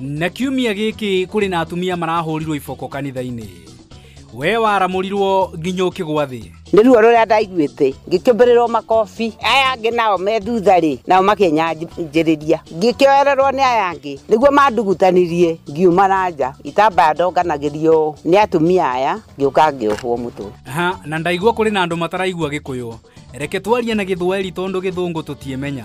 na kiumia gĩkĩ kũrĩ na atumia marahũrirwo iboko kanitha-inĩ we waramũrirwo nginya ũkĩgwa thĩ nä ruo rå rä a ndaiguä ngä mbä rä rwo makobi aya angä nao me thutha rä nao makenyanjä rä ria ngä kä oererwo nä aya angä nä guo mandugutanirie ngiuma na nja itambaya ndonganagä rio nä atumia aya ngä å ka ngä ohwo må tå ha na ndaigua kũrĩ na andũ mataraigua gĩkũyũ reke twarie na gĩthweri tondũ gĩthũngũ tũtiĩmenya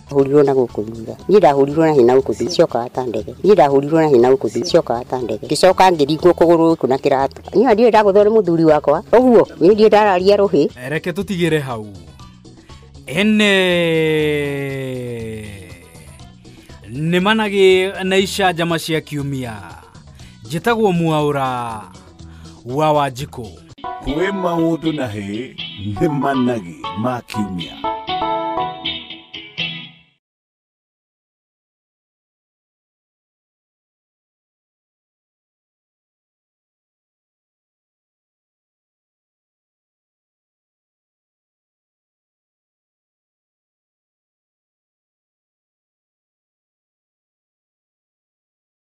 hũrirwo na gũkũ thutha niĩ ndahũrirwo na hina gũkũ thutha ciokaga ta ndege niĩ ndahũrirwo na hina gũkũ thutha ciokaga ta ndege ngĩcoka ngĩringwo kũgũrũ gũkũ na kĩratũ niĩ ndiĩ ndagũthwo nĩ mũthuri wakwa ũguo niĩ ndiĩ ndararia rũhĩ reke tũtigĩre hau ene nĩ managĩ na icanjama cia kiumia njĩtagwo mwaũra wa wanjikũ kwĩ maũndũ na hĩ nĩ managi ma kiumia